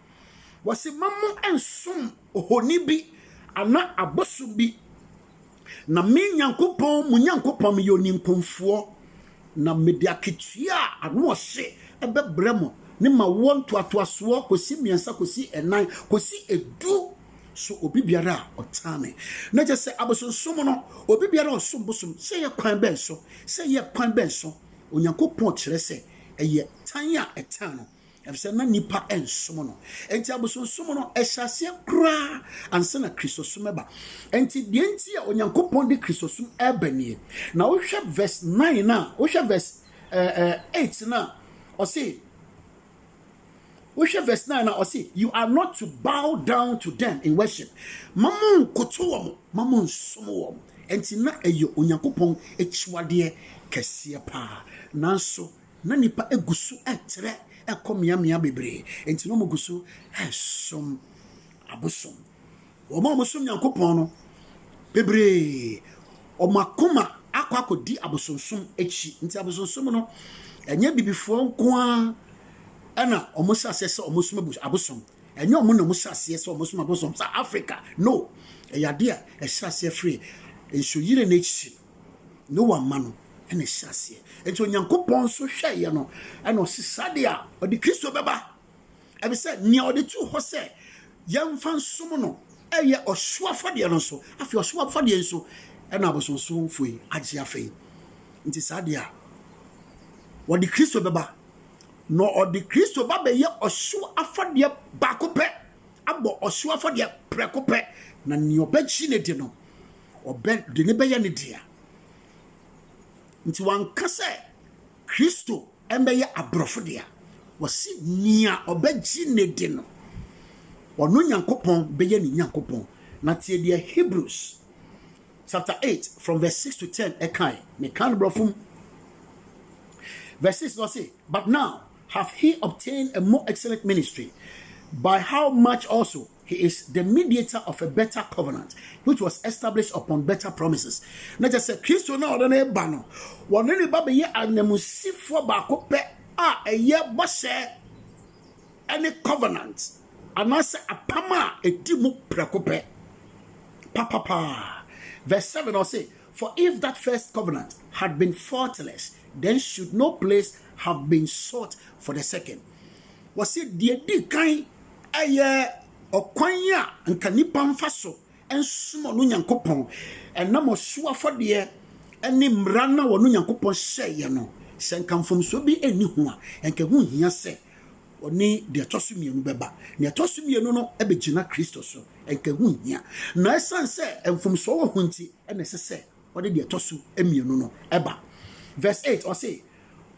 Wɔse ma mo nsom ohoni bi anaa abosom bi, na me Nyankopɔn, mo Nyankopɔn, meyɛ oninkɔmfoɔ, na mede akatua a ano wɔ hye bɛbrɛ mo ne m'awoɔ ntoatoasoɔ kɔsi mmiɛnsa kɔsi nnan kɔsi edu so obi biara a ɔtaa me. Na kyɛ sɛ abosonsom no, obi biara a ɔsom bosom, sɛ ɛyɛ kwan bɛn so, sɛ ɛyɛ kwan bɛn so, Onyankopɔn kyerɛ sɛ ɛyɛ tan a ɛtan no. Efisɛ na nnipa nsom no. Enti abosonsom no, ɛhyɛ aseɛ koraa ansa na Kristosom ɛba. Enti deɛ nti a Onyankopɔn de Kristosom ɛba nie. Na wohwɛ verse 9 no a, wohwɛ verse eh, eh, 8 no a, ɔse, wohwɛ verse 9 no a, ɔse, you are not to bow down to them in worship. Ma mo nkoto wɔn, ma mo nsom wɔn. Enti na ɛyɛ Onyankopɔn akyiwadeɛ kɛseɛ paa. Nanso, Na nnipa gu so retrɛ kɔ mmeaemmeae bebree, enti na wɔgu so resom abosom. Wɔn a wɔsom Nyankopɔn no, bebree, wɔn akoma akɔ akɔdi abosonsom akyi. Nti abosonsom no, ɛnyɛ bibifoɔ nko ara na wɔhyɛ aseɛ sɛ wɔsom abosom. Ɛnyɛ wɔn na wɔhyɛ aseɛ sɛ wɔsom abosom sa Afrika. No, ɛyɛ adeɛ a ɛhyɛ aseɛ firi nsuoyire no akyi. Noa mma no na ɛhyɛ aseɛ. Nti Onyankopɔn nso hwɛeɛ no ɛna ɔsi saa de a ɔde Kristo bɛba. Ɛbi sɛ nea ɔde tu hɔ sɛ yɛmfa nsom no ɛyɛ ɔhyew afɔdeɛ no nso. Afei ɔhyew afɔdeɛ nso ɛna abosonsomfo yi agye afei. Nti saa de a wɔde Kristo bɛba na ɔde Kristo ba bɛyɛ ɔhyew afɔdeɛ baako pɛ abɔ ɔhyew afɔdeɛ prɛko pɛ na nea ɔbɛgye ne de no ɔde no bɛyɛ ne dea. Nti wanka sɛ Kristo mbɛyɛ aborɔfo dea. Wɔse nea ɔbɛgye ne de no, ɔno Nyankopɔn bɛyɛ ne Nyankopɔn. Na tie deɛ Hebrews chapter 8 from verse 6 to 10 ɛkae. Meka no borɔfo mu. Verse 6 no ɔse, But now have he obtained a more excellent ministry, by how much also He is the mediator of a better covenant which was established upon better promises. Na kyerɛ sɛ Kristo na ɔde no reba no, wɔne ne ba bɛyɛ ananmusifoɔ baako pɛ a ɛyɛ bɔhyɛ ne covenant anaasɛ apam a ɛdi mu prɛko pɛ papapaa. Verse 7 ɔse, For if that first covenant had been faultless, then should no place have been sought for the second. Wɔse deɛ di kan Ɛyɛ ɔkwan a anka nnipa mfa so nsom ɔno Nyankopɔn, ɛnam ɔhyew afɔdeɛ ne mmara no a ɔno Nyankopɔn hyɛeɛ no. Sɛ anka mfomsoɔ bi nni ho a, anka ɛho nhia sɛ ɔne deɛ ɛtɔ so mmienu bɛba. Nea ɛtɔ so mmienu no bɛgyina Kristo so, anka ɛho nhia. Na ɛsiane sɛ mfomsoɔ wɔ ho nti na ɛsɛ sɛ ɔde deɛ ɛtɔ so mmienu no ba. Verse eight, ɔse,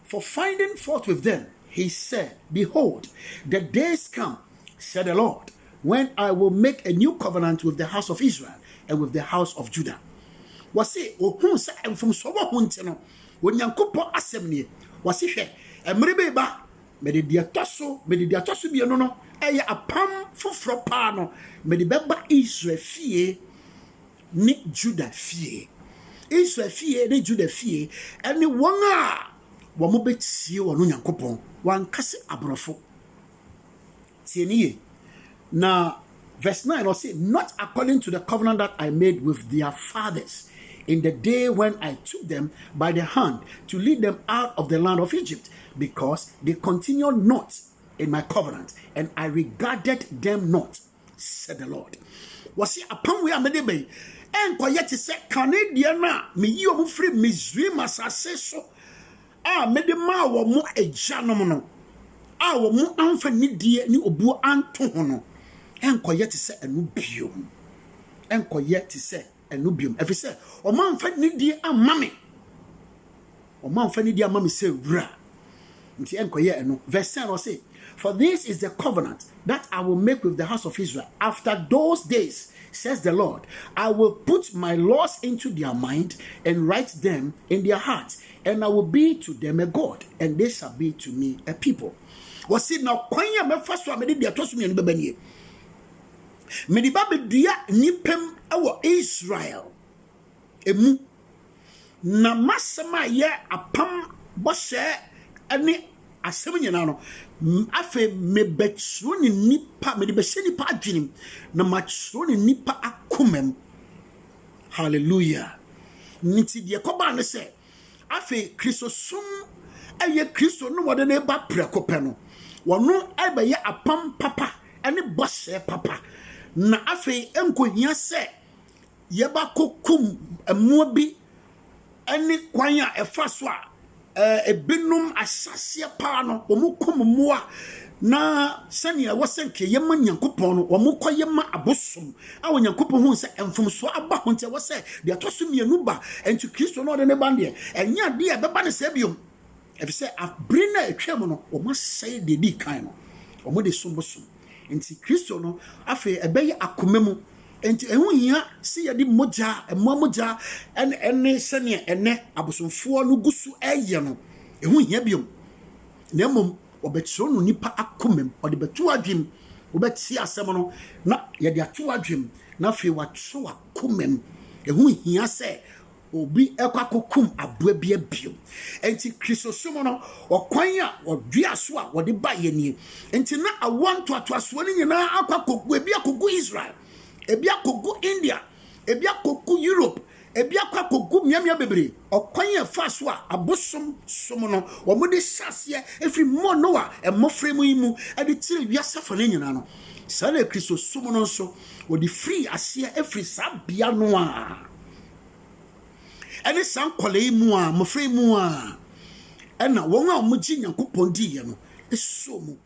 For finding fault with them, he said, Behold, the days come, said the Lord, when I will make a new covenant with the house of Israel and with the house of Judah. Wɔse, ohuu sɛ mfomsoɔ wɔ ho nti no, Onyankopɔn asɛm nie, wɔse, Hwɛ, mmere bi ba, mede deɛ ɛtɔ so, mede deɛ ɛtɔ so mmienu no, ɛyɛ apam foforɔ paa no, mede bɛba Israel fie ne Juda fie. Israel fie ne Juda fie ne wɔn a wɔbɛtie wɔn Nyankopɔn. Wanka sɛ aborɔfo. Tie ne yie. Na verse 9 no ɔse, Not according to the covenant that I made with their fathers in the day when I took them by the hand to lead them out of the land of Egypt, because they continued not in my covenant, and I regarded them not. said the Lord. Wɔsi apam wei a mede ba yi ɛnkɔyɛ te sɛ kane deɛ no a meyi wɔn firi Misraim asase so a mede maa wɔn agyanom no a wɔn amfa nidie ne obuo anto ho no, ɛnkɔyɛ te sɛ ɛno bio, ɛnkɔyɛ te sɛ. ɛno bio, ɛfiri sɛ wɔamfa nidie amma me, wɔamfa nidie amma me sɛ wura. Nti ɛnkɔyɛ ɛno. Verse 10 ɔse, For this is the covenant that I will make with the house of Israel after those days, says the Lord. I will put my laws into their mind and write them in their heart, and I will be to them a God, and they shall be to me a people. Wɔse na kwan a mɛfa so a mede deɛ ɛtɔ so mmienu bɛba nie. Mede ba bedua nnipa mu wɔ Israel mu, na m'asɛm a ɛyɛ apam bɔhyɛ ne asɛm nyinaa no, afei mebɛkyerɛ ne nnipa, mede bɛhyɛ nnipa adwenem, na makyerɛ ne nnipa akomam. Hallelujah. Nti deɛ kɔbaa ne sɛ, Afei Kristosom yɛ Kristo no wɔde no ba prɛko pɛ no. Wɔno bɛyɛ apam papa ne bɔhyɛ papa. Na afei ɛnkohia sɛ yɛbɛkokum mmoa bi ne kwan a ɛfa so a ebinom ahyɛaseɛ paa no wɔkum mmoa na sɛnea ɛwɔ sɛ nka yɛma Nyankopɔn no wɔkɔyɛ ma abosom a Onyankopɔn hui sɛ mfomsoɔ aba ho nti, ɛwɔ sɛ deɛ ɛtɔ so mmienu ba. Enti Kristo na ɔde ne ba deɛ, ɛnyɛ adeɛ a ɛbɛba ne saa biom, ɛfiri sɛ bere no a ɛtwaam no, wɔasɛe deɛ ɛdii kan no, wɔde som bosom. Enti Kristo no afei ɛbɛyɛ akoma mu, enti ɛho hia sɛ yɛde mogya, mmoa mogya, ne sɛdeɛ ɛnnɛ abosomfoɔ no gu so reyɛ no, ɛho hia biom, na mmom wɔbɛkyerɛw no nnipa akomam, wɔde bɛto adwem, wobɛte asɛm no na yɛde ato adwem, na afei wɔakyerɛw akomam. Ɛho hia sɛ obi kɔ akɔkum aboa bi abiem. Enti Kristosom no, ɔkwan a wɔdua so a wɔde ba yɛ nie. Enti na awoɔ ntoatoasoɔ no nyinaa akɔ akɔgu, ebi akɔgu Israel, ebi akɔgu India, ebi akɔgu Europe, Ebi akɔ akogu mmeammea bebree. Ɔkwan a ɛfaa so a abosom som no wɔde hyɛɛ aseɛ firi Noa mmoframu yi mu de kyerɛɛ wiase afa no nyinaa no, saa ara na Kristosom no nso, wɔde firii aseɛ firii saa bea no ara ne saa nkwadaa yi mu ara, mmofra yi mu ara na wɔn a wɔgyee Nyankopɔn diiɛ no soo mu.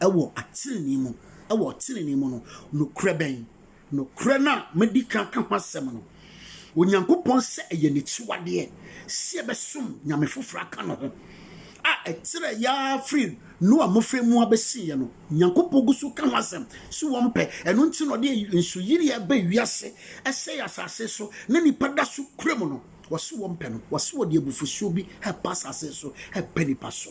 wɔ atɛnee mu, wɔ ɔtɛnee mu no, nokorɛ bɛn? Nokorɛ no a madi kan aka ho asɛm no, Onyankopɔn sɛ ɛyɛ n'akyiwadeɛ sɛ yɛbɛsom nyame foforɔ aka ne ho, a ɛtrɛ yɛa firi Noa mmɔfra mu abɛsiiɛ no, Nyankopɔn gu so ka ho asɛm sɛ wɔmpɛ, ɛno nti na ɔde nsuyireɛ ba wiase sɛe asase so na nipa da so kura mu no, wɔse wɔmpɛ no, wɔse wɔde abufusuo bi ɛɛpa asase so ɛɛpa nipa so.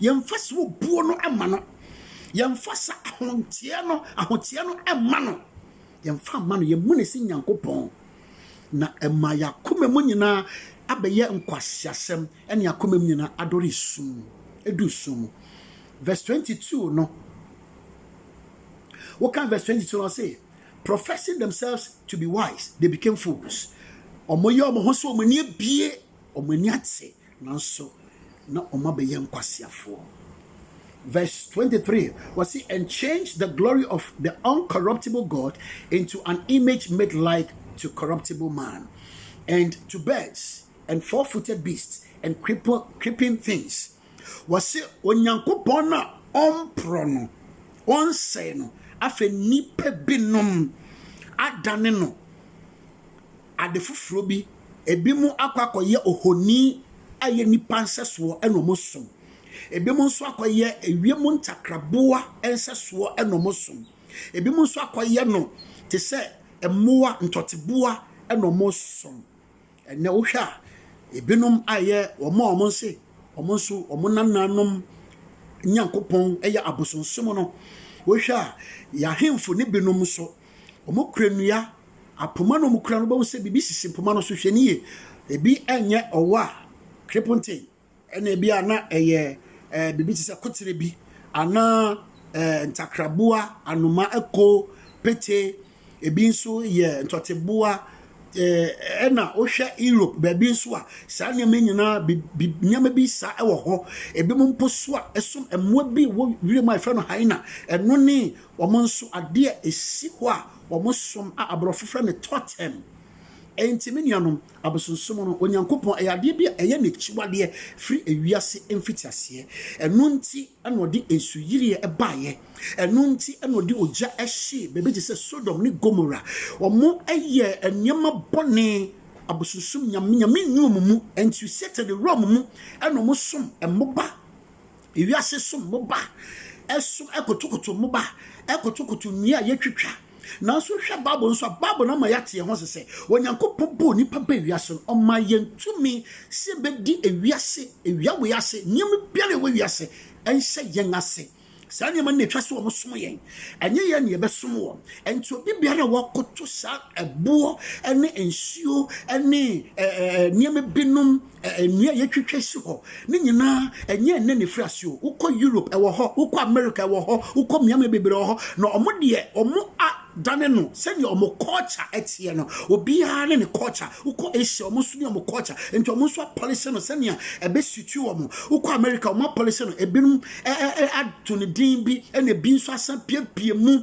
Yɛmfa saa obuo no mma no. Yɛmfa saa ahonteɛ no, ahoteɛ no mma no. Yɛmfa mma no. Yɛmmu no sɛ Nyankopɔn. Na ɛma yɛn akoma mu nyinaa abɛyɛ nkwaseasɛm ne yɛn akoma mu nyinaa adɔre sum, edu sum mu. Verse 22 no, wokan verse 22 no ɔse, professing themselves to be wise, they became fools. Wɔyɛ wɔn ho sɛ wɔn ani abie, wɔn ani ate, Nanso na wɔabɛyɛ nkwaseafoɔ. Verse twenty three, wɔsi, And change the glory of the uncorruptible God into an image made like to corruptible man, and to birds, and four-footed beasts, and creeper, creeping things. Wɔsi, Onyankopɔn a ɔmporɔ no, ɔnsɛe no, afei nnipa binom adane no. ade foforɔ bi. Ebinom akɔ akɔyɛ ohoni a ɛyɛ nnipa nsɛsoɔ na wɔsom. Ebinom nso akɔyɛ ewiem ntakraboa nsɛsoɔ na wɔsom. Ebinom nso akɔyɛ no te sɛ mmoa, ntɔteboa na wɔsom. Ɛnnɛ wohwɛ a, ebinom ayɛ wɔn a wɔse wɔn nso wɔn nananom Nyankopɔn yɛ abosonsom no. Wohwɛ a, yɛn ahemfo no binom nso, Wɔkura nnua, apoma na wɔkura no wobɛhu sɛ biribi sisi mpoma no so. Hwɛ no yie. Ebi nyɛ ɔwɔ a kreponten ɛna ebi a na ɛyɛ ɛɛ biribi te sɛ kotere bi anaa ɛɛ ntakraboa, anoma, ɛko, pete. Ebi nso yɛ ntɔteboa. Ɛɛ ɛna wohwɛ Europe baabi nso a saa nneɛma yi nyinaa bi bi nneɛma bi saa ɛwɔ hɔ. Ebinom mpo so a ɛso mmoa bi wɔ wiem a wɔfrɛ no hyena. Ɛno ne Wɔn nso, adeɛ a ɛsi hɔ a wɔsom a aborɔfo frɛ no totem. Enti me nuanom, abosonsom no, Onyankopɔn, ɛyɛ adeɛ bi a ɛyɛ n'akyiwadeɛ firi ewiase mfitiaseɛ. Ɛno nti na ɔde nsuyiriɛ baeɛ. Ɛno nti na ɔde ogya hyee baabi te sɛ Sodom ne Gomora. Wɔyɛɛ nneɛma bɔne, abosonsom nyame, nyame nni wɔn mu. Enti Satan wura wɔn mu na wɔsom mmoba Wiase so mmoba so kotokoto mmoba kotokoto nnua a yetwitwa. Nanso wohwɛ Bible nso a, Bible no ama yɛate yɛn ho ase sɛ Onyankopɔn bɔɔ nnipa baa wiase no, ɔmaa yɛn tumi sɛ yɛbɛdi wiase awia wei ase. Nneɛma biara a ɛwɔ wiase nhyɛ yɛn ase. Saa nneɛma no na ɛtwa sɛ wɔsom yɛn, ɛnyɛ yɛn na yɛbɛsom wɔn. Enti obi biara a wakoto saa ɛboɔ ne nsuo ne nneɛma binom Nnua a yɛatwitwa asi hɔ no nyinaa, ɛnyɛ ɛnnɛ na ɛfiri ase o. Wokɔ Europe, ɛwɔ hɔ. Wokɔ America, ɛwɔ hɔ. Wokɔ mmeammea bebree, ɛwɔ hɔ. Na wɔn deɛ, wɔadane no sɛdeɛ wɔn culture teɛ no. Obiara ne ne culture. Wokɔ Asia, wɔn nso ne wɔn culture. Nti wɔn nso apɔlese no sɛdeɛ ɛbɛsuiti wɔn. Wokɔ America, wɔapɔlese no. Ebinom ato no din bi, ɛnna ebi nso asan apiapia mu.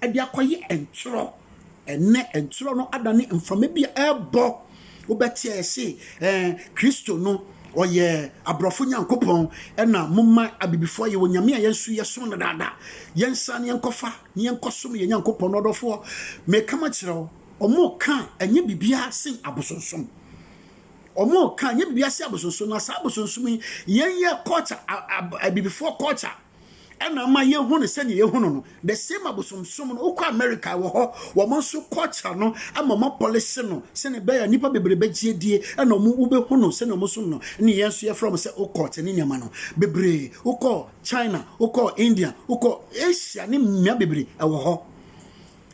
de akɔyɛ ntorɔ. Ɛnnɛ, ntorɔ no adane mframa bi a ɛrebɔ. Wobɛte a yɛse, ɛɛ, Kristo no, ɔyɛ aborɔfo Nyankopɔn, ɛna momma abibifoɔ yɛ onyame a yɛnso yɛsom no daadaa. Yɛnsan ne yɛnkɔfa ne yɛnkɔsom yɛn Nyankopɔn no ɔdɔfoɔ. Meka makyerɛ wo, wɔreka a, ɛnyɛ biribiara sen abosonsom. Wɔreka a, ɛnyɛ biribiara sen abosonsom, na saa abosonsom yi, yɛn yɛ culture, abibifoɔ culture. ɛna ama yɛhu no sɛdeɛ yɛhu no no the same abosomsom no wokɔ america wɔ hɔ wɔn nso culture no ama wɔn apɔlese no sɛdeɛ ɛbɛyɛ nnipa bebree bɛgye adie ɛna wɔn wobɛhu no sɛdeɛ wɔn som no ne yɛn nso yɛfrɛ wɔn sɛ wokɔ te ne nneɛma no bebree wokɔ china wokɔ india wokɔ asia ne mmea bebree ɛwɔ hɔ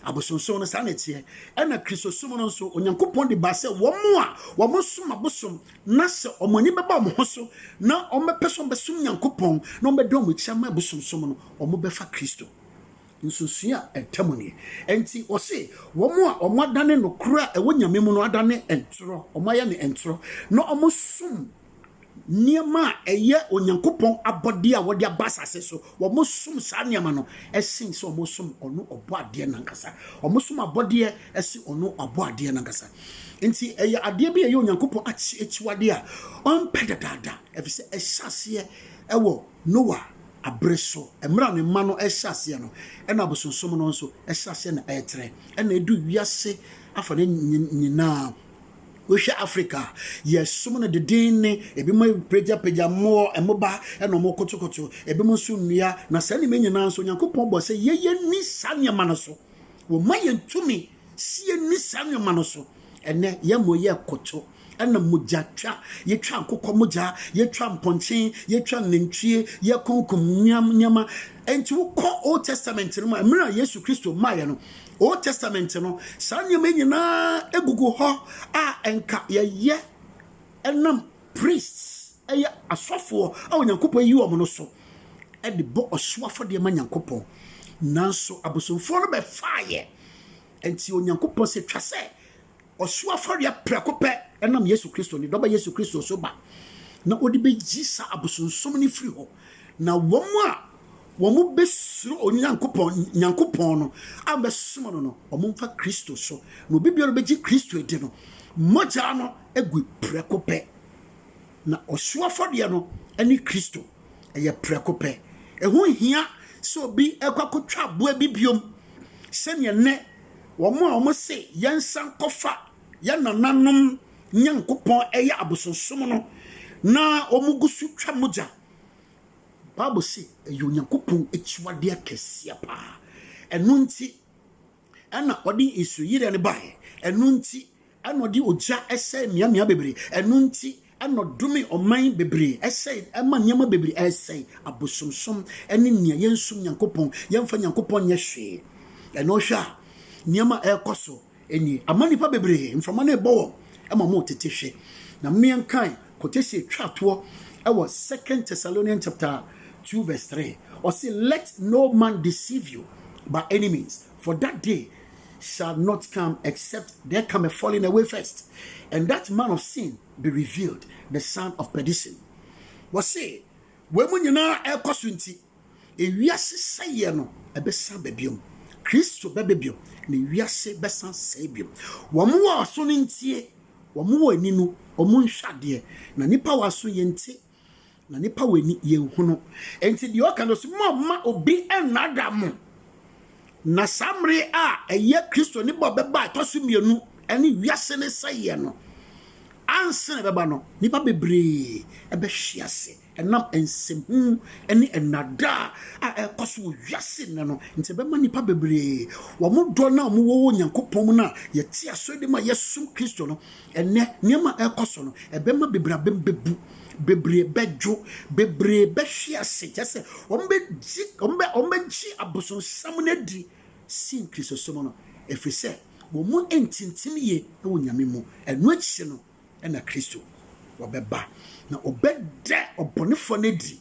Abosonsom no saa na ɛteɛ. Ɛna Kristosom no nso, Onyankopɔn de baa sɛ wɔn a wɔsom abosom na sɛ wɔn ani bɛba wɔn ho so na wɔbɛpɛ sɛ wɔbɛsom Nyankopɔn na wɔbɛda wɔn akyi ama abosonsom no, wɔbɛfa Kristo. Nsonsonoe a ɛda mu nie. Enti ɔse, wɔn a wɔadane nokorɛ a ɛwɔ Nyame mu no adane ntorɔ, wɔayɛ no ntorɔ, na wɔsom nneɛma a ɛyɛ Onyankopɔn abɔdeɛ a wɔde aba asase so. Wɔsom saa nneɛma no sen sɛ wɔsom ɔno ɔbɔadeɛ no ankasa. Wɔsom abɔdeɛ sen ɔno ɔbɔadeɛ no ankasa. Nti ɛyɛ adeɛ bi a ɛyɛ Onyankopɔn akyiwadeɛ a ɔmpɛ dadaada, ɛfiri sɛ ɛhyɛ aseɛ wɔ Noa abere so. Mmerɛ a ne mma no rehyɛ aseɛ no, ɛna abosonsom no nso hyɛ aseɛ na ɛretrɛ, ɛna ɛduru wiase afa no nyinaa. Wohwɛ Africa a, yɛsom no denneennen. Ebinom apagyapagya mmɔ, mmoba na wɔkotokoto, ebinom nso nnua. Na saa nneɛma nyinaa nso, Onyankopɔn bɔ sɛ yɛ yɛnni saa nneɛma no so. Wɔma yɛn tumi si yɛnni saa nneɛma no so. Ɛnɛ yɛmmɔ yɛ koto ɛna mogya twa, yɛtwa nkokɔ mogya, yɛtwa mpɔnkye, yɛtwa nantwie, yɛkonkom nneɛma. Enti wokɔ Old Testament no mu a, mmerɛ a Yesu Kristo maeɛ no, Old Testament no, saa nneɛma yi nyinaa gugu hɔ a nka yɛyɛ nam priests, ɛyɛ asɔfoɔ a Onyankopɔn ayi wɔn no so de bɔ ɔhyew afɔdeɛ ma Nyankopɔn. Nanso abosomfoɔ no bɛfaeɛ, nti Onyankopɔn sɛ twa sɛ Ɔhyew afɔreɛ prɛko pɛ nam Yesu Kristo, Ne Dɔba Yesu Kristo so ba, na ɔde bɛyi saa abosonsom no firi hɔ, na wɔn a wɔbɛsuro Onyankopɔn, Nyankopɔn no, a wɔbɛsom no no, wɔmfa Kristo so, na obi biara ɔbɛgye Kristo adi no, mogya no gu prɛko pɛ. Na ɔhyew afɔreɛ no ne Kristo, ɛyɛ prɛko pɛ. Ɛho nhia sɛ obi ɛkɔ akɔtwa aboa bi biom sɛdeɛ nnɛ Wɔn a wɔse yɛnsan nkɔfa yɛn nananom Nyankopɔn yɛ abosonsom no, na wɔgu so twa mogya. Bible se ɛyɛ Onyankopɔn akyiwadeɛ kɛseɛ paa. Ɛno nti na ɔde nsuyireɛ no baeɛ. Ɛno nti Ɛna ɔde ogya sɛe mmeammea bebree. Ɛno nti, ɛna ɔdome ɔman bebree sɛe, ɛma nneɛma bebree sɛe, abosomsom ne nea yɛnsom Nyankopɔn, yɛmfa Nyankopɔn nyɛ hwee. Ɛna wohwɛ a, nneɛma a ɛrekɔ so ni. Ama nnipa bebree, mframa no rebɔ wɔn ma wɔretete hwe. Na momma yɛnkae quotation a etwaa toɔ wɔ Second Thessalonians chapter two verse three. Ɔse, Let no man deceive you by any means. For that day shall not come, except there come a falling away first, and that man of sin be revealed, the son of perdition. Wɔse, wei mu nyinaa ɛrekɔ so nti, ewiase sɛeɛ no ɛbɛsan ba biom. Kristo bɛba biom, na wiase bɛsan sɛe biom. Wɔn wɔ aso no ntie, wɔn wɔ ani no, wɔn nhwɛ adeɛ, na nnipa wɔ aso yɛnte. Na nipa wɔ ani, yɛnhunu. Enti deɛ ɔka no so, Mommma obi nnaadaa mo. Na saa mmere a ɛyɛ Kristo ne bɔ bɛba a ɛtɔ so mmienu ne wiase ne sɛeɛ no ansa na ɛbɛba no, nnipa bebree bɛhwe ase ɛnam nsɛmhu ne nnaadaa a ɛrekɔ so wɔ wiase nnɛ no nti. Ɛbɛma nnipa bebree wɔn dɔ no a wɔwɔ wɔ Onyankopɔn mu no a yɛte aso de ma yɛsom Kristo no Ɛnnɛ, nneɛma a ɛrekɔ so no, ɛbɛma bebree abam bebu, bebree bɛdwo, bebree bɛhwe ase, kyerɛ sɛ, wɔbɛgye, wɔbɛ, wɔbɛgye abosonsam no adi sen Kristosom no, ɛfiri sɛ wɔn ntintim yie wɔ Nyame mu. Ɛno akyi no na Kristo ɔbɛba, na ɔbɛda ɔbɔnefoɔ no adi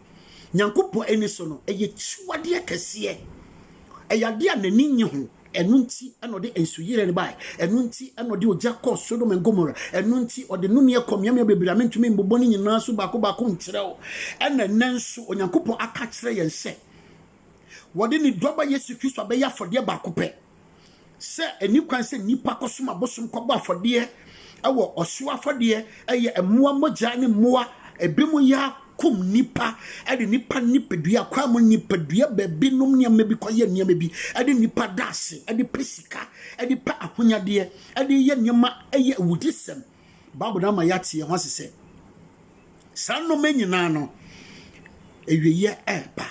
Nyankopɔn ani so no, ɛyɛ akyiwadeɛ kɛseɛ. Ɛyɛ adeɛ a n'ani nnye ho. Ɛno nti na ɔde nsuyire no bae. Ɛno nti na ɔde ogya kɔɔ Sodom and Gomora. Ɛno nti ɔde nnomeɛ kɔɔ mmeammea bebree a mentumi mbobɔ ne nyinaa so baako baako nkyerɛ wo. Ɛna nnɛ nso Onyankopɔn aka akyerɛ yɛn sɛ wɔde ne Dɔba Yesu Kristo abɛyɛ afɔdeɛ baako pɛ. sɛ ɛni kwan sɛ nnipa kɔsom abosom kɔbɔ afɔdeɛ ɛwɔ ɔhyew afɔdeɛ ɛyɛ mmoa mogya ne mmoa ebinom yɛ akum nnipa ɛde nnipa nipadua kwan mu nipadua baabinom nneɛma bi kɔyɛ nneɛma bi ɛde nnipa daase ɛde pɛ sika ɛde pɛ ahonyadeɛ ɛde yɛ nneɛma ɛyɛ awudisɛm baabu na ama yɛate yɛn ho ase sɛ saa nneɛma nyinaa no awieɛ ɛɛba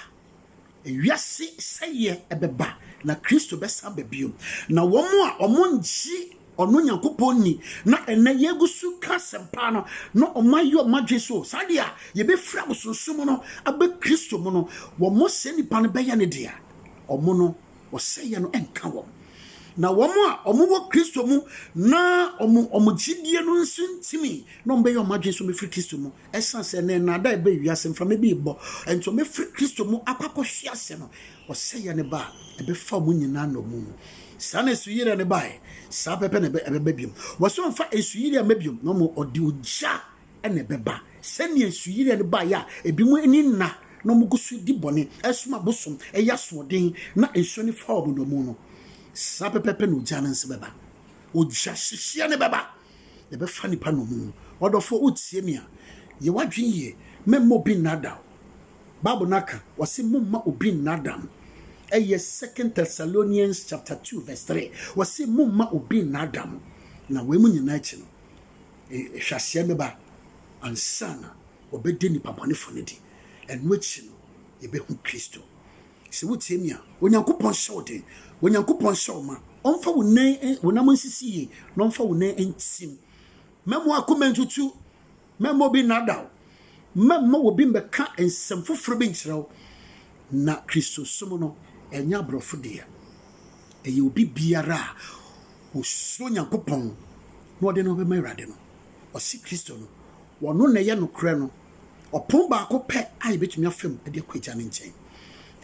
Wiase sɛeɛ bɛba, na Kristo bɛsan aba bio. Na wɔn a wɔnngye Ɔno Nyankopɔn nni, na ɛnnɛ yɛgu so reka asɛmpa no, na wɔayɛ wɔn adwene sɛ, saa deɛ a, yɛbɛfiri abosonsom mu no aba Kristo mu no, wɔn saa nnipa no bɛyɛ no dea. Wɔn no, ɔsɛeɛ no nka wɔn. Na wɔn a wɔwɔ Kristo mu na wɔn gyedie no nso ntumi, na wɔbɛyɛ wɔn adwene sɛ wɔbɛfiri Kristo mu Esiane sɛ nnɛ nnaadaa bɛn wiase mframa bi rebɔ nti, wɔafiri Kristo mu akɔ akɔhwe ase no, ɔsɛeɛ no ba a, ɛbɛfa wɔn nyinaa nnommum. Saa na asuyireɛ no baeɛ, saa pɛpɛ na ɛbɛba bio. Wɔse ɔmfa nsuyireɛ mma bio, na mmom ɔde ogya na ɛbɛba. Sɛdeɛ nsuyireɛ no baeɛ a ebinom ani nna na wɔgu so di bɔne, som abosom, yɛ asoɔden, na nsuo no fa wɔn nnommum no, saa pɛpɛɛpɛ na ogya no nso bɛba. Ogya hyehyeɛ no bɛba. Yɛbɛfa nnipa nnommum. Ɔdɔfoɔ, wotie me a, yɛ w'adwene yie. Mɛmma obi nnaadaa wo. Bible no aka, wɔse momma obi nnaadaa mo. Ɛyɛ Second Thessalonians chapter two verse three. Wɔse momma obi nnaadaa mo. Na wei mu nyinaa akyi no, nhwɛaseɛ bɛba ansa na wɔbɛda nnipa bɔnefoɔ no adi. Ɛno akyi no, yɛbɛhu Kristo. Sɛ wotie me a, Onyankopɔn hyɛ wo den, Onyankopɔn hyɛ wo ma, ɔmfa wo nan, wo nam nsisi yie, na ɔmfa wo nan ntim. Mɛmma w'akoma ntutu, mɛmma obi nnaadaa wo, mɛmma obi mmɛka nsɛm foforɔ bi nkyerɛ wo. Na Kristosom no, ɛnyɛ aborɔfo deɛ. Ɛyɛ obi biara a ɔsuro Onyankopɔn na ɔde ne ho bɛma Awurade no. Ɔse Kristo no, Ɔno na ɛyɛ nokorɛ no. Ɔpono baako pɛ a yɛbɛtumi afa mu de akɔ Agya no nkyɛn.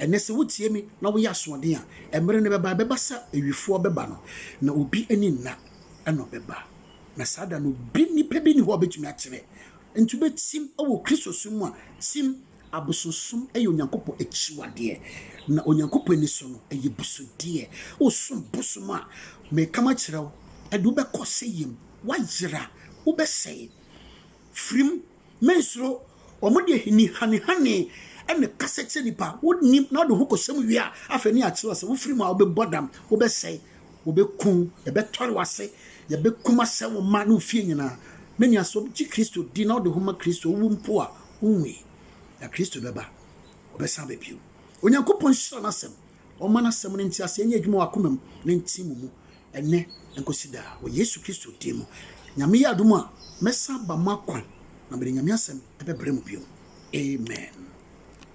Ɛnnɛ, sɛ wotie me na woyɛ asoɔden a, mmerɛ no bɛba, ɛbɛba sɛ awifoɔ bɛba no, na obi ani nna, ɛna ɔbɛba. Na saa da no, obi, nipa bi nni hɔ a ɔbɛtumi akyerɛ. Enti wobɛtim wɔ Kristosom mu a, tim. Abosonsom yɛ Onyankopɔn akyiwadeɛ, na Onyankopɔn ani so no, ɛyɛ abusudeɛ. Wosom bosom a, meka makyerɛ wo, ɛde wo bɛkɔ ɔsɛeɛ mu. Woayera, wobɛsɛe. Firi mu, mensuro. Wɔde ahini hanehane na ɛkasa kyerɛ nnipa. Wonnim na wode wo ho kɔhyɛ mu wie a, afei na yɛakyerɛ wo sɛ wofiri mu a, wobɛbɔ dam, wobɛsɛe, wɔbɛku wo, yɛbɛtɔre w'ase, yɛbɛkum asɛe wo mma ne wo fie nyinaa. Me nua, sɛ wogye Kristo di na wode wo ho ma Kristo a, wowu mpo a, Owui, na Kristo bɛba, ɔbɛsan aba bio. Onyankopɔn nhyira n'Asɛm. Ɔmma n'Asɛm no nteaseɛ nyɛ adwuma wɔ akoma mu na ɛntim mo mu, ɛnnɛ nkɔsi daa, wɔ Yesu Kristo din mu. Nyame yɛ adom a, mɛsan aba mo akwan, na mede Nyame Asɛm bɛbrɛ mo bio. Amen.